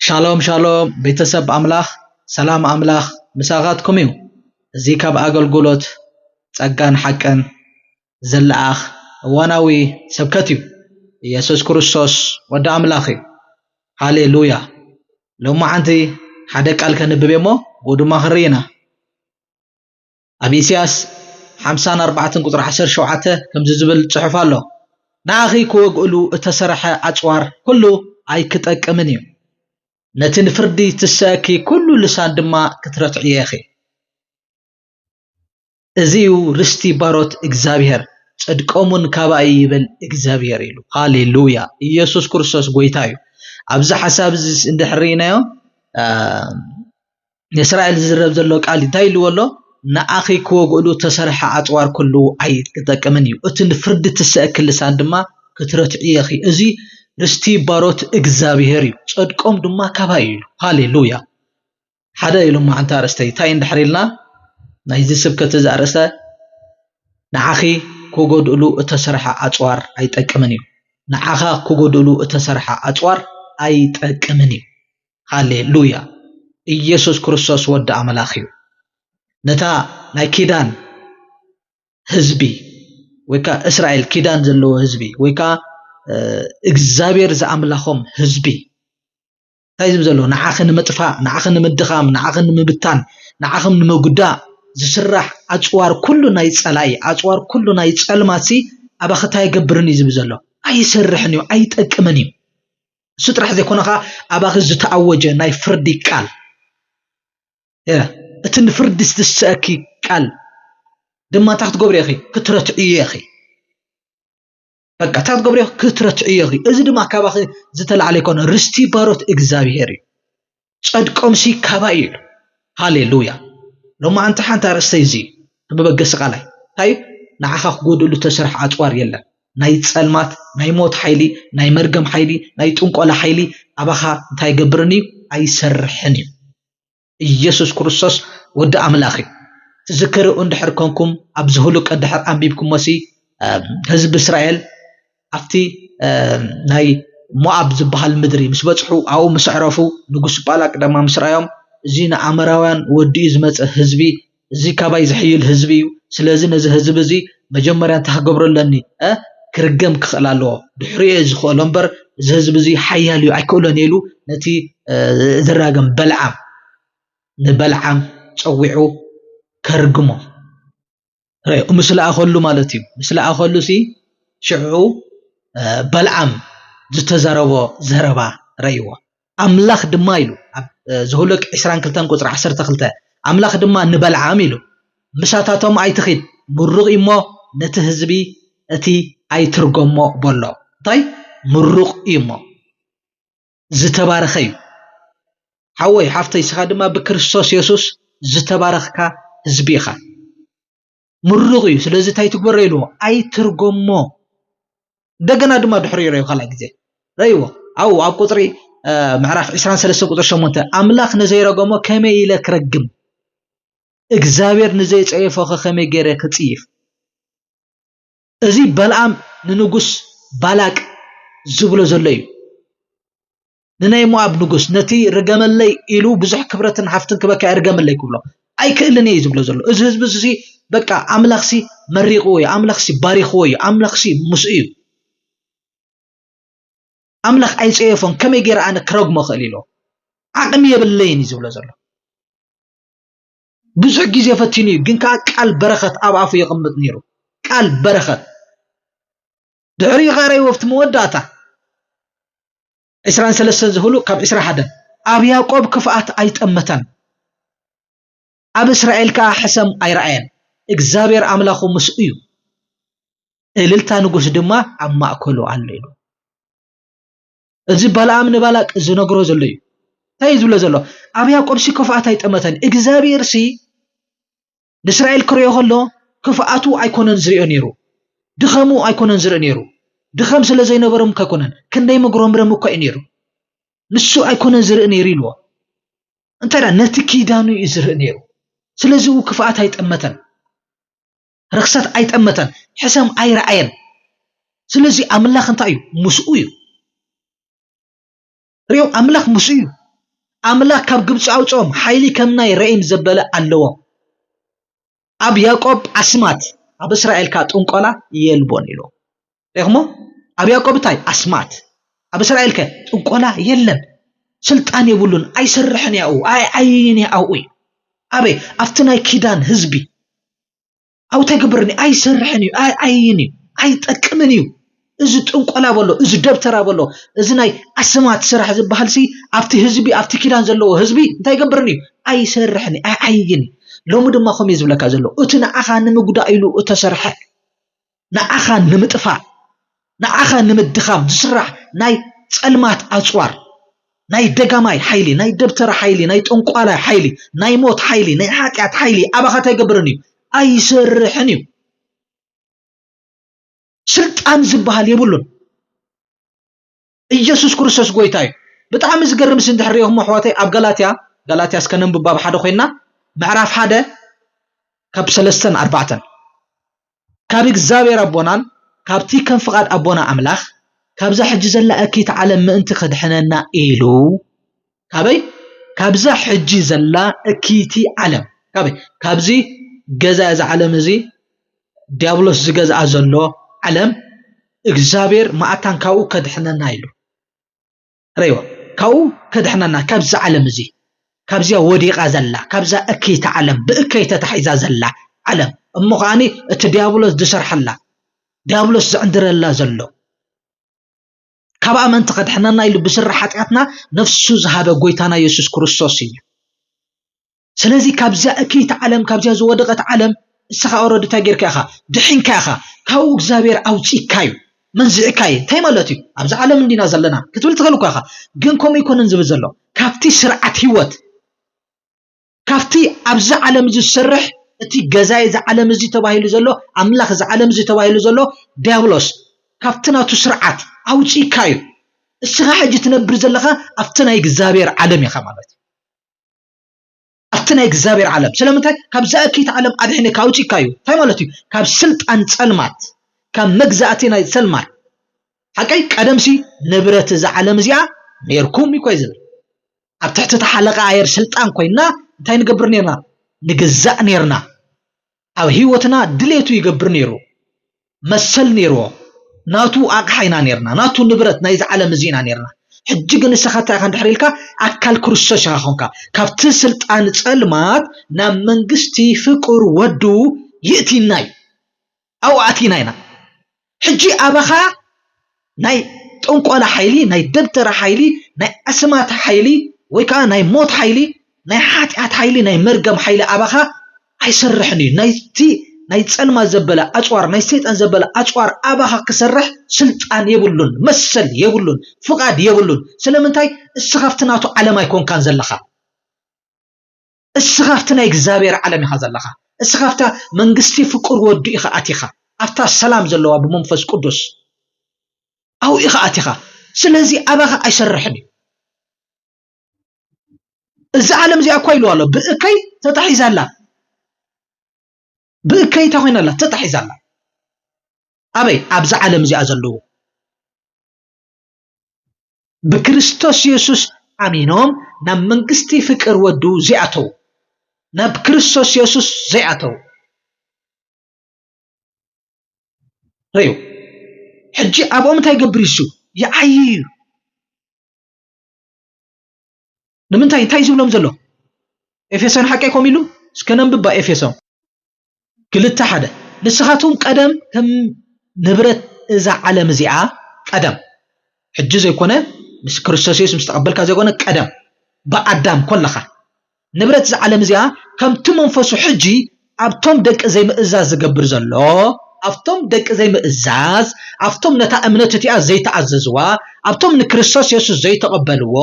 ሻሎም ሻሎም ቤተሰብ ኣምላኽ ሰላም ኣምላኽ ምሳኻትኩም እዩ። እዚ ካብ ኣገልግሎት ጸጋን ሓቅን ዝለኣኽ እዋናዊ ስብከት እዩ። ኢየሱስ ክርስቶስ ወዲ ኣምላኽ እዩ። ሃሌ ሉያ። ሎማዓንቲ ሓደ ቃል ከንብብ እየ እሞ ብኡ ድማ ክንርኢ ኢና። ኣብ ኢሳያስ ሓምሳን ኣርባዕተን ቁጽሪ ዓሰርተ ሸውዓተ ከምዚ ዝብል ጽሑፍ ኣሎ ንኣኺ ክወግእሉ እተሰርሐ ኣጽዋር ኩሉ ኣይክጠቅምን እዩ ነቲ ንፍርዲ ትሰእኪ ኩሉ ልሳን ድማ ክትረትዕዮ ኢኺ። እዚ እዩ ርስቲ ባሮት እግዚኣብሔር ጽድቆምውን ካባይ ይበል እግዚኣብሔር ኢሉ ሃሌ ሉያ ኢየሱስ ክርስቶስ ጎይታ እዩ ኣብዚ ሓሳብ እዚ እንድሕር ርኢናዮ ንእስራኤል ዝዝረብ ዘሎ ቃል እንታይ ኢልዎ ኣሎ ንኣኺ ክወግእሉ ተሰርሐ ኣጽዋር ኩሉ ኣይጠቅምን እዩ እቲ ንፍርዲ ትሰእክ ልሳን ድማ ክትረትዒ እኺ እዚ ርስቲ ባሮት እግዚኣብሔር እዩ ጽድቆም ድማ ካባይ ኢሉ ሃሌ ሉያ ሓደ ኢሉ እሞ ሓንቲ ኣርእስቲ እንታይ እንድሕር ኢልና ናይዚ ስብከት እዚ ኣርእስተ ንዓኺ ክጎድእሉ እተሰርሐ ኣጽዋር ኣይጠቅምን እዩ ንዓኻ ክጎድእሉ እተሰርሐ ኣጽዋር ኣይጠቅምን እዩ ሃሌሉያ ኢየሱስ ክርስቶስ ወዲ ኣምላኽ እዩ ነታ ናይ ኪዳን ህዝቢ ወይ ከዓ እስራኤል ኪዳን ዘለዎ ህዝቢ ወይ ከዓ እግዚኣብሔር ዝኣምላኾም ህዝቢ እንታይ ዝብል ዘሎ ንዓኺ ንምጥፋእ ንዓኺ ንምድኻም ንዓኺ ንምብታን ንዓኽም ንምጉዳእ ዝስራሕ ኣፅዋር ኩሉ ናይ ፀላኢ ኣፅዋር ኩሉ ናይ ፀልማት ሲ ኣባኺ እንታይ ይገብርን እዩ ዝብል ዘሎ ኣይሰርሕን እዩ ኣይጠቅምን እዩ እሱ ጥራሕ ዘይኮነ ከዓ ኣባኺ ዝተኣወጀ ናይ ፍርዲ ቃል እቲ ንፍርዲ ዝትስአኪ ቃል ድማ እንታይ ክትገብሪ ኢኺ ክትረትዕዮ ኢኺ በቃ እታ ትገብርዮ ክትረትዕዮ ኢኺ እዚ ድማ ካባኺ ዝተላዕለ ይኮነ ርስቲ ባሮት እግዚኣብሄር እዩ ጸድቆምሲ ካባ እዩ ኢሉ ሃሌሉያ ሎማዓንቲ ሓንቲ ኣርእስተይ እዚ መበገሲ ቃላይ እንታይ ንዓኻ ክጎድእሉ ተሰርሐ ኣፅዋር የለን ናይ ፀልማት ናይ ሞት ሓይሊ ናይ መርገም ሓይሊ ናይ ጥንቆላ ሓይሊ ኣባኻ እንታይ ገብርን እዩ ኣይሰርሕን እዩ ኢየሱስ ክርስቶስ ወዲ ኣምላኽ እዩ። ትዝክርኡ እንድሕር ኮንኩም ኣብዚ ሁሉቀ እንድሕር ኣንቢብኩሞሲ ህዝቢ እስራኤል ኣብቲ ናይ ሞኣብ ዝበሃል ምድሪ ምስ በጽሑ ኣብኡ ምስ ኣዕረፉ ንጉስ ባላቅ ድማ ምስ ረኣዮም እዚ ንኣመራውያን ወዲኡ ዝመጸ ህዝቢ እዚ ካባይ ዝሕይል ህዝቢ እዩ ስለዚ ነዚ ህዝቢ እዚ መጀመርያ እንታይ ክገብሮ ኣለኒ እ ክርገም ክኽእል ኣለዎ ድሕሪኡ እየ ዝኽእሎ እምበር እዚ ህዝቢ እዚ ሓያል እዩ ኣይክእሎን ኢሉ ነቲ ዝራገም በልዓም ንበልዓም ጸዊዑ ከርግሞ ርኡ ምስ ለኣኸሉ ማለት እዩ ምስ ለኣኸሉ ሲ ሽዑ በልዓም ዝተዘረቦ ዘረባ ረእይዎ ኣምላኽ ድማ ኢሉ ኣብ ዘሁልቅ ዕስራን ክልተን ቁጽሪ ዓሰርተ ክልተ ኣምላኽ ድማ ንበልዓም ኢሉ ምሳታቶም ኣይትኺድ ምሩቕ እዩ እሞ ነቲ ህዝቢ እቲ ኣይትርጎሞ በሎ እንታይ ምሩቕ እዩ እሞ ዝተባረኸ እዩ ሓወይ ሓፍተይ ስኻ ድማ ብክርስቶስ የሱስ ዝተባረኽካ ህዝቢ ኢኻ። ምሩቕ እዩ ስለዚ እንታይ ትግበሮ ኢልዎ ኣይትርጎሞ እንደገና ድማ ድሕሪ ረዩ ካልኣይ ግዜ ረይዎ ኣብኡ ኣብ ቁፅሪ ምዕራፍ 23 ቁፅሪ 8 ኣምላኽ ንዘይረገሞ ከመይ ኢለ ክረግም እግዚኣብሔር ንዘይፀየፎ ኸ ከመይ ገይረ ክፅይፍ እዚ በልኣም ንንጉስ ባላቅ ዝብሎ ዘሎ እዩ ንናይ ሞኣብ ንጉስ ነቲ ርገመለይ ኢሉ ብዙሕ ክብረትን ሃፍትን ክበካ ይርገመለይ ክብሎ ኣይክእልን እየ ዝብሎ ዘሎ እዚ ህዝቢ እዚ በቃ ኣምላኽሲ መሪቕዎ እዩ ኣምላኽሲ ባሪኽዎ እዩ ኣምላኽሲ ምስ እዩ ኣምላኽ ኣይፀየፎን ከመይ ገይረ ኣነ ክረግሞ ክእል ኢሎ ዓቕሚ የብለይን እዩ ዝብሎ ዘሎ ብዙሕ ግዜ ፈቲኑ እዩ ግን ከዓ ቃል በረኸት ኣብ ኣፉ የቕምጥ ነይሩ ቃል በረኸት ድሕሪኡ ከኣ ርእይዎ ኣብቲ መወዳእታ ዕስራን ሰለስተን ዝህሉ ካብ ዕስራ ሓደን ኣብ ያቆብ ክፍኣት ኣይጠመተን ኣብ እስራኤል ከኣ ሕሰም ኣይረኣየን እግዚኣብሔር ኣምላኹ ምስኡ እዩ እልልታ ንጉስ ድማ ኣብ ማእከሉ ኣሎ ኢሉ እዚ ባልኣም ንባላቅ ዝነግሮ ዘሎ እዩ እንታይ እዩ ዝብሎ ዘሎ ኣብ ያቆብሲ ክፍኣት ኣይጠመተን እግዚኣብሔርሲ ንእስራኤል ክሪኦ ከሎ ክፍኣቱ ኣይኮነን ዝሪኦ ነይሩ ድኸሙ ኣይኮነን ዝርኢ ነይሩ ድኸም ስለ ዘይነበሮም እኮ ኣይኮነን ክንደይ መጉረምረም እኮ እዩ ነይሩ ንሱ ኣይኮነን ዝርኢ ነይሩ ኢልዎ እንታይ ነቲ ኪዳኑ እዩ ዝርኢ ነይሩ ስለዚ ው ክፍኣት ኣይጠመተን ርክሰት ኣይጠመተን ሕሰም ኣይረኣየን ስለዚ ኣምላኽ እንታይ እዩ ምስኡ እዩ ርእዮም ኣምላኽ ምስኡ እዩ ኣምላኽ ካብ ግብፂ ኣውፅኦም ሓይሊ ከም ናይ ረኢም ዘበለ ኣለዎም ኣብ ያቆብ ኣስማት ኣብ እስራኤል ካ ጥንቆላ የልቦን ኢሉ ሪኹሞ ኣብ ያቆብ እንታይ ኣስማት ኣብ እስራኤል ከ ጥንቆላ የለን ስልጣን የብሉን ኣይሰርሕን ያኡ ኣይዓይን ያኡ እዩ ኣበይ ኣብቲ ናይ ኪዳን ህዝቢ ኣብኡ ተግብርኒ ኣይሰርሕን እዩ ኣይኣይን እዩ ኣይጠቅምን እዩ እዚ ጥንቆላ በሎ እዚ ደብተራ በሎ እዚ ናይ ኣስማት ስራሕ ዝበሃል ሲ ኣብቲ ህዝቢ ኣብቲ ኪዳን ዘለዎ ህዝቢ እንታይ ይገብርኒ እዩ ኣይሰርሕን እዩ ኣይኣይን እዩ ሎሚ ድማ ከምኡ ዝብለካ ዘሎ እቲ ንዓኻ ንምጉዳእ ኢሉ እተሰርሐ ንዓኻ ንምጥፋእ ንዓኻ ንምድኻም ዝስራሕ ናይ ጸልማት ኣጽዋር፣ ናይ ደጋማይ ሓይሊ፣ ናይ ደብተራ ሓይሊ፣ ናይ ጠንቋላይ ሓይሊ፣ ናይ ሞት ሓይሊ፣ ናይ ሓጢኣት ሓይሊ ኣባኻ እንታይ ይገብርን እዩ? ኣይሰርሕን እዩ። ስልጣን ዝበሃል የብሉን። ኢየሱስ ክርስቶስ ጎይታ እዩ። ብጣዕሚ ዝገርም ሲ እንድሕር ሪኢኹሞ ኣሕዋተይ ኣብ ጋላትያ ጋላትያ እስከ ነንብብ ኣብ ሓደ ኮይና ምዕራፍ ሓደ ካብ ሰለስተን ኣርባዕተን ካብ እግዚኣብሔር ኣቦናን ካብቲ ከም ፍቃድ ኣቦና ኣምላኽ ካብዛ ሕጂ ዘላ እኪት ዓለም ምእንቲ ከድሕነና ኢሉ ካበይ ካብዛ ሕጂ ዘላ እክይቲ ዓለም ካበይ ካብዚ ገዛ እዚ ዓለም እዚ ዲያብሎስ ዝገዝኣ ዘሎ ዓለም እግዚኣብሔር መኣታን ካብኡ ከድሕነና ኢሉ ረይዋ ካብኡ ከድሕነና ካብዚ ዓለም እዚ ካብዚያ ወዲቓ ዘላ ካብዛ እክይቲ ዓለም ብእከይ ተታሒዛ ዘላ ዓለም እሞ ከዓኒ እቲ ዲያብሎስ ዝሰርሐላ ዲያብሎስ ዝዕንድረላ ዘሎ ካብ ኣመንቲ ከድሕነና ኢሉ ብስረ ሓጢኣትና ነፍሱ ዝሃበ ጎይታና የሱስ ክርስቶስ እዩ ስለዚ ካብዛ እክይቲ ዓለም ካብዛ ዝወደቐት ዓለም እስኻ ኦረዲ እንታይ ጌርካ ኢኻ ድሒንካ ኢኻ ካብኡ እግዚኣብሔር ኣውፂካ እዩ መንዚዕካ እዩ እንታይ ማለት እዩ ኣብዚ ዓለም እንዲና ዘለና ክትብል ትኽእል እኳ ኢኻ ግን ከምኡ ኣይኮነን ዝብል ዘሎ ካብቲ ስርዓት ህይወት ካብቲ ኣብዚ ዓለም እዚ ዝሰርሕ እቲ ገዛኢ እዚ ዓለም እዚ ተባሂሉ ዘሎ ኣምላኽ እዚ ዓለም እዚ ተባሂሉ ዘሎ ዲያብሎስ ካብቲ ናቱ ስርዓት ኣውጺእካ እዩ። እስኻ ሕጂ ትነብር ዘለኻ ኣብቲ ናይ እግዚኣብሔር ዓለም ኢኻ ማለት እዩ። ኣብቲ ናይ እግዚኣብሔር ዓለም ስለምንታይ ካብዛ እክይቲ ዓለም ኣድሒንካ ኣውጺእካ እዩ። እንታይ ማለት እዩ? ካብ ስልጣን ጸልማት ካብ መግዛእቲ ናይ ጸልማት ሓቀይ ቀደምሲ ንብረት እዚ ዓለም እዚኣ ነርኩም እዩ ኮይ ዝብል ኣብ ትሕቲ እቲ ሓለቓ ኣየር ስልጣን ኮይንና እንታይ ንገብር ነይርና? ንግዛእ ነይርና። ኣብ ህይወትና ድሌቱ ይገብር ነይሩ። መሰል ነይርዎ። ናቱ ኣቕሓ ኢና ነይርና። ናቱ ንብረት ናይዚ ዓለም እዚ ኢና ነይርና። ሕጂ ግን ንሰኻ እንታይ ኢኻ እንድሕር ኢልካ ኣካል ክርስቶስ ኢኻ ኮንካ። ካብቲ ስልጣን ጸልማት ናብ መንግስቲ ፍቁር ወዱ ይእቲና እዩ። ኣብኡ ኣቲና ኢና ሕጂ ኣባኻ ናይ ጥንቆላ ሓይሊ ናይ ደብተራ ሓይሊ ናይ ኣስማት ሓይሊ ወይ ከኣ ናይ ሞት ሓይሊ ናይ ሓጢኣት ሓይሊ ናይ መርገም ሓይሊ ኣባኻ ኣይሰርሕን እዩ ናይቲ ናይ ጸልማት ዘበለ ኣጽዋር ናይ ሰይጣን ዘበለ ኣጽዋር ኣባኻ ክሰርሕ ስልጣን የብሉን መሰል የብሉን ፍቓድ የብሉን ስለምንታይ እስኻብቲ ናቱ ዓለም ኣይኮንካን ዘለኻ እስኻ ኣብቲ ናይ እግዚኣብሔር ዓለም ኢኻ ዘለኻ እስኻ ኣብታ መንግስቲ ፍቁር ወዱ ኢኻ ኣቲኻ ኣብታ ሰላም ዘለዋ ብመንፈስ ቅዱስ ኣብኡ ኢኻ ኣቲኻ ስለዚ ኣባኻ ኣይሰርሕን እዩ እዚ ዓለም እዚኣ እኳ ኢልዋ ኣሎ ብእከይ ተታሒዛ ኣላ ብእከይ እንታይ ኮይና ኣላ ተታሒዛ ኣላ ኣበይ ኣብዚ ዓለም እዚኣ ዘለዉ ብክርስቶስ የሱስ ኣሚኖም ናብ መንግስቲ ፍቅር ወዱ ዘይኣተዉ ናብ ክርስቶስ የሱስ ዘይኣተዉ ረዩ ሕጂ ኣብኦም እንታይ ገብር ይሱ ይዓይ እዩ ንምንታይ እንታይ ዝብሎም ዘሎ ኤፌሶን ሓቀይ ኮም ኢሉ እስከ ነንብባ ኤፌሶን ክልተ ሓደ ንስኻትኩም ቀደም ከም ንብረት እዛ ዓለም እዚኣ ቀደም ሕጂ ዘይኮነ ምስ ክርስቶስ የሱስ ምስ ተቐበልካ ዘይኮነ ቀደም ብኣዳም ኮለኻ ንብረት እዛ ዓለም እዚኣ ከምቲ መንፈሱ ሕጂ ኣብቶም ደቂ ዘይምእዛዝ ዝገብር ዘሎ ኣብቶም ደቂ ዘይምእዛዝ ኣብቶም ነታ እምነት እቲኣ ዘይተኣዘዝዋ ኣብቶም ንክርስቶስ የሱስ ዘይተቐበልዎ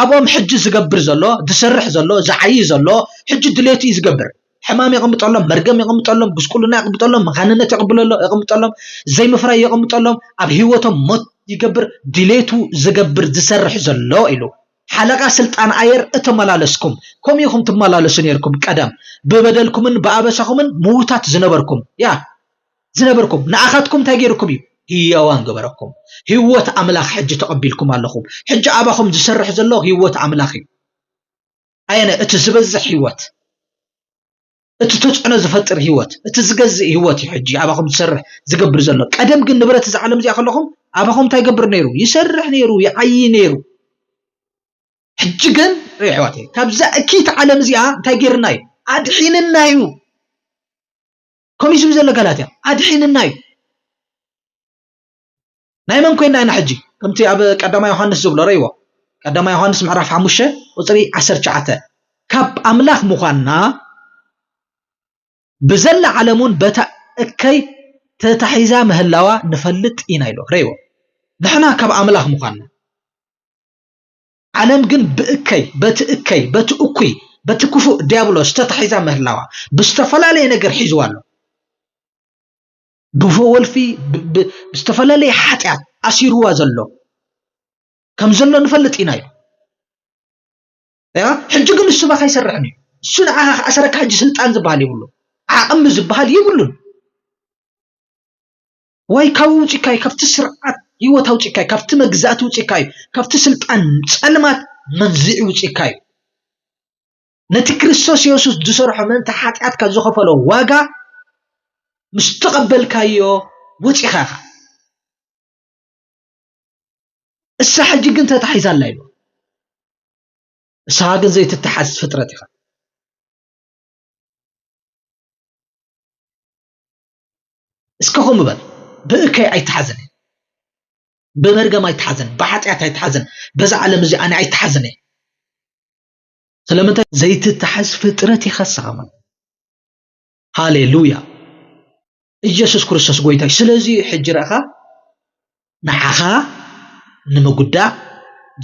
ኣብኦም ሕጂ ዝገብር ዘሎ ዝሰርሕ ዘሎ ዝዓይይ ዘሎ ሕጂ ድሌቱ እዩ ዝገብር ሕማም የቐምጠሎም፣ መርገም የቐምጠሎም፣ ጉስቁልና የቐምጠሎም፣ መኻንነት የቕብለሎ የቐምጠሎም፣ ዘይምፍራይ የቐምጠሎም፣ ኣብ ህይወቶም ሞት ይገብር፣ ድሌቱ ዝገብር ዝሰርሕ ዘሎ ኢሉ። ሓለቓ ስልጣን ኣየር እተመላለስኩም ከምኡ ኢኹም ትመላለሱ ነይርኩም ቀደም ብበደልኩምን ብኣበሳኹምን ምዉታት ዝነበርኩም ያ ዝነበርኩም ንኣኻትኩም እንታይ ገይርኩም እዩ ህያዋን ገበረኩም ህይወት ኣምላኽ ሕጂ ተቐቢልኩም ኣለኹም ሕጂ ኣባኹም ዝሰርሕ ዘሎ ህይወት ኣምላኽ እዩ ኣየናይ እቲ ዝበዝሕ ህይወት እቲ ተፅዕኖ ዝፈጥር ህይወት እቲ ዝገዝእ ህይወት እዩ ሕጂ ኣባኹም ዝሰርሕ ዝገብር ዘሎ ቀደም ግን ንብረት እዚ ዓለም እዚኣ ከለኹም ኣባኹም እንታይ ይገብር ነይሩ ይሰርሕ ነይሩ ይዓይ ነይሩ ሕጂ ግን ሪኦ ኣሕዋተይ ካብዛ እኪት ዓለም እዚኣ እንታይ ጌርና እዩ ኣድሒንና እዩ ከምኡ ዝብል ዘሎ ጋላትያ ኣድሒንና እዩ ናይ መን ኮይና ኢና ሕጂ ከምቲ ኣብ ቀዳማይ ዮሃንስ ዝብሎ ረይዎ ቀዳማይ ዮሃንስ ምዕራፍ ሓሙሽተ ቁፅሪ ዓሰርተ ትሽዓተ ካብ ኣምላኽ ምዃንና ብዘላ ዓለም እውን በታ እከይ ተታሒዛ ምህላዋ ንፈልጥ ኢና ኢሎ ረይዎ ንሕና ካብ ኣምላኽ ምዃንና ዓለም ግን ብእከይ በቲ እከይ በቲ እኩይ በቲ ክፉእ ዲያብሎስ ተታሒዛ ምህላዋ ብዝተፈላለየ ነገር ሒዝዋ ኣሎ ብወልፊ ብዝተፈላለየ ሓጢኣት ኣሲርዋ ዘሎ ከም ዘሎ ንፈልጥ ኢና ኢሉ ሕጂ ግን ንሱ ባካ ይሰርሕን እዩ እሱ ንዓኻ ክኣሰረካ ሕጂ ስልጣን ዝበሃል ይብሉ ዓቕሚ ዝበሃል ይብሉን ወይ ካብ ውፅካ እዩ ካብቲ ስርዓት ህይወት ኣውፅካ እዩ ካብቲ መግዛእቲ ውፅካ እዩ ካብቲ ስልጣን ፀልማት መንዝዒ ውፅካ እዩ ነቲ ክርስቶስ የሱስ ዝሰርሖ ምእንቲ ሓጢኣትካ ዝኸፈሎ ዋጋ ምስ ተቐበልካዮ ወፂኻ ኢኻ እሳ ሕጂ ግን ተታሒዛ ኣላ ኢሉ እሳኻ ግን ዘይትተሓዝ ፍጥረት ኢኻ እስከ ከምኡ በል ብእከይ ኣይተሓዘን ብመርገም ኣይተሓዘን ብሓጢኣት ኣይተሓዘን በዛ ዓለም እዚ ኣነ ኣይተሓዘን እየ ስለምንታይ ዘይትታሓዝ ፍጥረት ኢኻ ንስኻ ማለት ሃሌሉያ ኢየሱስ ክርስቶስ ጎይታ እዩ ስለዚ ሕጂ ረእኻ ንዓኻ ንምጉዳእ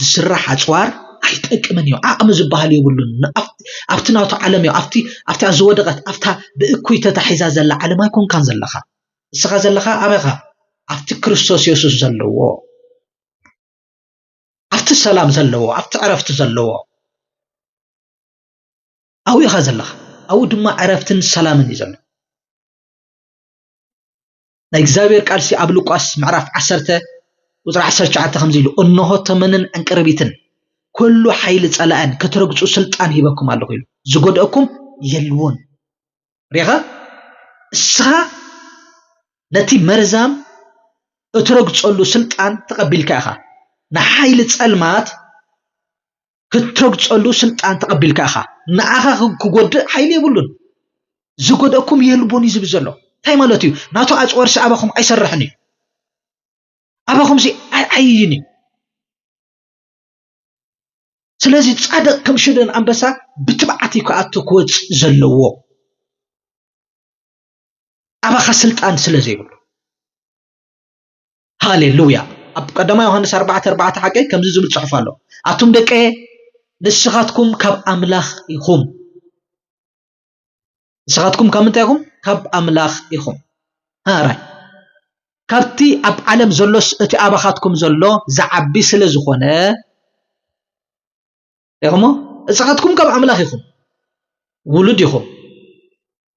ዝስራሕ ኣፅዋር ኣይጠቅምን እዩ ዓቕሚ ዝበሃል የብሉን ኣብቲ ናቱ ዓለም እዩ ኣብቲ ኣብታ ዝወደቐት ኣብታ ብእኩይ ተታሒዛ ዘላ ዓለም ኣይኮንካን ዘለኻ ንስኻ ዘለኻ ኣበኻ ኣብቲ ክርስቶስ የሱስ ዘለዎ ኣብቲ ሰላም ዘለዎ ኣብቲ ዕረፍቲ ዘለዎ ኣብኡ ኢኻ ዘለኻ ኣብኡ ድማ ዕረፍትን ሰላምን እዩ ዘሎ ናይ እግዚኣብሔር ቃልሲ ኣብ ሉቃስ ምዕራፍ ዓሰርተ ቁፅሪ ዓሰርተ ትሽዓተ ከምዚ ኢሉ እንሆ ተመንን ዕንቅርቢትን ኩሉ ሓይሊ ጸላእን ክትረግጹ ስልጣን ሂበኩም ኣለኹ ኢሉ ዝጎድአኩም የልዎን ሪኻ እስኻ ነቲ መርዛም እትረግጸሉ ስልጣን ተቐቢልካ ኢኻ ንሓይሊ ጸልማት ክትረግጸሉ ስልጣን ተቐቢልካ ኢኻ ንዓኻ ክጎድእ ሓይሊ የብሉን ዝጎደእኩም የልቦን እዩ ዝብል ዘሎ እንታይ ማለት እዩ ናቱ ኣፅዋርሲ ኣባኹም ኣይሰርሕን እዩ ኣባኹምሲ ኣይዓይይን እዩ ስለዚ ጻድቕ ከም ሽደን ኣንበሳ ብትብዓት እዩ ክኣቱ ክወጽእ ዘለዎ ኣባኻ ስልጣን ስለ ዘይብሉ ሃሌሉያ ኣብ ቀዳማ ዮሃንስ ኣርባዕተ ኣርባዕተ ሓቀይ ከምዚ ዝብል ጽሑፍ ኣሎ ኣቱም ደቀየ ንስኻትኩም ካብ ኣምላኽ ኢኹም ንስኻትኩም ካብ ምንታይ ኢኹም? ካብ ኣምላኽ ኢኹም። ሃራይ ካብቲ ኣብ ዓለም ዘሎስ እቲ ኣባኻትኩም ዘሎ ዝዓቢ ስለ ዝኾነ ኢኹሞ ንስኻትኩም ካብ ኣምላኽ ኢኹም ውሉድ ኢኹም።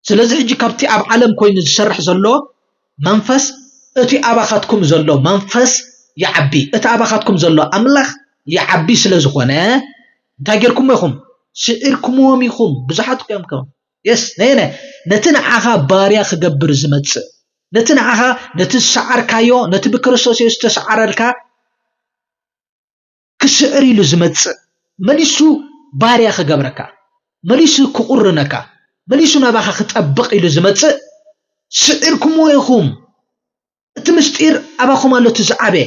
ስለዚ ሕጂ ካብቲ ኣብ ዓለም ኮይኑ ዝሰርሕ ዘሎ መንፈስ እቲ ኣባኻትኩም ዘሎ መንፈስ ይዓቢ እቲ ኣባኻትኩም ዘሎ ኣምላኽ ይዓቢ ስለ ዝኾነ እንታይ ጌርኩሞ ኢኹም ስዒርኩምዎም ኢኹም ብዙሓት እኮ እዮም ከም የስ ነየነ ነቲ ንዓኻ ባርያ ክገብር ዝመጽእ ነቲ ንዓኻ ነቲ ዝሰዓርካዮ ነቲ ብክርስቶስ የሱስ ዝተሰዓረልካ ክስዕር ኢሉ ዝመጽእ መሊሱ ባርያ ክገብረካ መሊሱ ክቑርነካ መሊሱ ናባኻ ክጠብቕ ኢሉ ዝመጽእ ስዒርኩምዎ ኢኹም እቲ ምስጢር ኣባኹም ኣሎ እቲ ዝዓበየ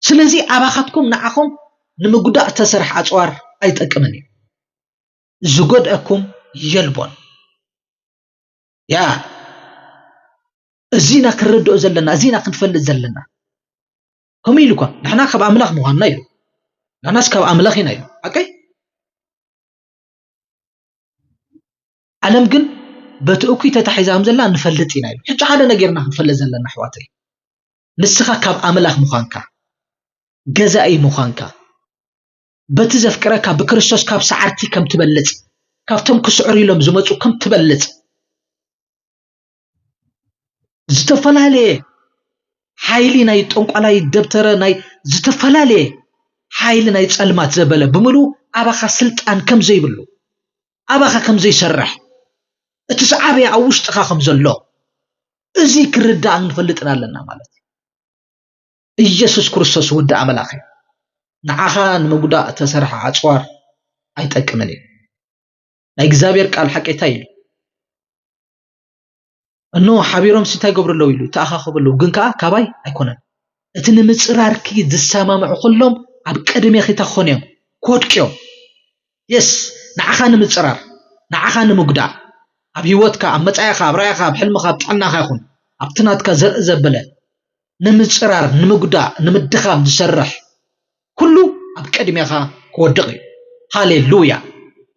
ስለዚ ኣባኻትኩም ንዓኹም ንምጉዳእ ዝተሰርሐ ኣጽዋር ኣይጠቅምን እዩ። ዝጎድኣኩም የልቦን። ያ እዚና ክንርድኦ ዘለና እዚና ክንፈልጥ ዘለና ከምኡ ኢሉ እኳ ንሕና ካብ ኣምላኽ ምዃንና ኢሉ ንሕናስ ካብ ኣምላኽ ኢና ኢሉ ሓቀይ ዓለም ግን በቲ እኩይ ተታሒዛ ከም ዘላ ንፈልጥ ኢና ኢሉ ሕጂ ሓደ ነገርና ክንፈልጥ ዘለና ኣሕዋተይ ንስኻ ካብ ኣምላኽ ምዃንካ፣ ገዛኢ ምዃንካ፣ በቲ ዘፍቅረካ ብክርስቶስ ካብ ሰዓርቲ ከም ትበልጽ፣ ካብቶም ክስዕሩ ኢሎም ዝመጹ ከም ትበልጽ ዝተፈላለየ ሓይሊ ናይ ጠንቋላይ ደብተረ ናይ ዝተፈላለየ ሓይሊ ናይ ጸልማት ዘበለ ብምሉ ኣባኻ ስልጣን ከም ዘይብሉ ኣባኻ ከም ዘይሰርሕ እቲ ሰዓብያ ኣብ ውሽጥኻ ከም ዘሎ እዚ ክርዳእን ክንፈልጥን ኣለና ማለት እዩ። ኢየሱስ ክርስቶስ ወዲ ኣምላኽ እዩ። ንዓኻ ንምጉዳእ እተሰርሐ ኣጽዋር ኣይጠቅምን እዩ። ናይ እግዚኣብሔር ቃል ሓቂ እንታይ ኢሉ? እኖ ሓቢሮም ስንታይ ይገብሩ ኣለዉ ኢሉ ይተኣኻኸቡ ኣለዉ፣ ግን ከኣ ካባይ ኣይኮነን። እቲ ንምጽራርኪ ዝሰማምዑ ኩሎም ኣብ ቅድሜኺ እንታይ ክኾኑ እዮም? ክወድቁ እዮም። የስ ንዓኻ ንምጽራር፣ ንዓኻ ንምጉዳእ፣ ኣብ ህይወትካ፣ ኣብ መጻኢኻ፣ ኣብ ራእይኻ፣ ኣብ ሕልምኻ፣ ኣብ ጥዕናኻ ይኹን ኣብቲ ናትካ ዘርኢ ዘበለ ንምጽራር፣ ንምጉዳእ፣ ንምድኻም ዝሰርሕ ኩሉ ኣብ ቅድሜኻ ክወድቕ እዩ። ሃሌ ሉያ!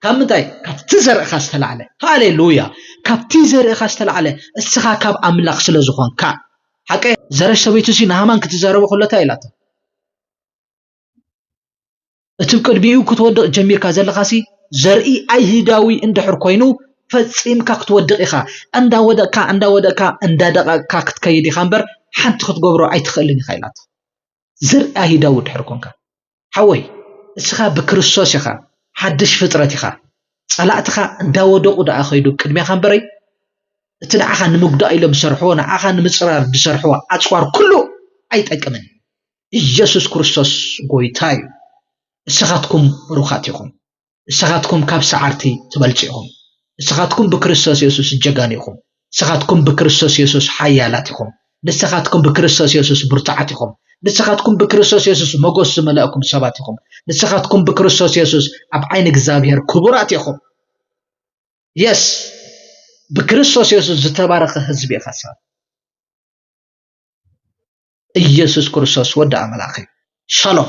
ካብ ምንታይ? ካብቲ ዘርእኻ ዝተላዕለ። ሃሌ ሉያ! ካብቲ ዘርእኻ ዝተላዕለ፣ እስኻ ካብ ኣምላኽ ስለ ዝኾንካ። ሓቀይ? ዘረሽ ሰበይቱሲ ንሃማን ክትዛረቦ ከሎ እንታይ ኢላቶ? እቲ ብ ቅድሚኡ ክትወድቕ ጀሚርካ ዘለኻሲ ዘርኢ ኣይሁዳዊ እንድሕር ኮይኑ ፈጺምካ ክትወድቕ ኢኻ። እንዳ ወደቕካ እንዳ ወደቕካ እንዳ ደቐቕካ ክትከይድ ኢኻ እምበር ሓንቲ ክትገብሮ ኣይትኽእልን ኢኻ ኢላቶ። ዘርኢ ኣይሁዳዊ ድሕሪ ኮንካ ሓወይ እስኻ ብክርስቶስ ኢኻ ሓድሽ ፍጥረት ኢኻ ጸላእትኻ እንዳወደቁ ደኣ ከይዱ ቅድሜኻ እምበረይ እቲ ንዓኻ ንምጉዳእ ኢሎም ዝሰርሕዎ ንዓኻ ንምጽራር ዝሰርሕዎ ኣጽዋር ኩሉ ኣይጠቅምን ኢየሱስ ክርስቶስ ጎይታ እዩ እስኻትኩም ብሩኻት ኢኹም ንስኻትኩም ካብ ሰዓርቲ ትበልጹ ኢኹም። ንስኻትኩም ብክርስቶስ የሱስ ጀጋኑ ኢኹም። ንስኻትኩም ብክርስቶስ የሱስ ሓያላት ኢኹም። ንስኻትኩም ብክርስቶስ የሱስ ብርቱዓት ኢኹም። ንስኻትኩም ብክርስቶስ የሱስ መጎስ ዝመለእኩም ሰባት ኢኹም። ንስኻትኩም ብክርስቶስ የሱስ ኣብ ዓይኒ እግዚኣብሔር ክቡራት ኢኹም። የስ ብክርስቶስ የሱስ ዝተባረኸ ህዝቢ ኢኻ ሰብ ኢየሱስ ክርስቶስ ወዲ ኣምላኽ እዩ ሻሎም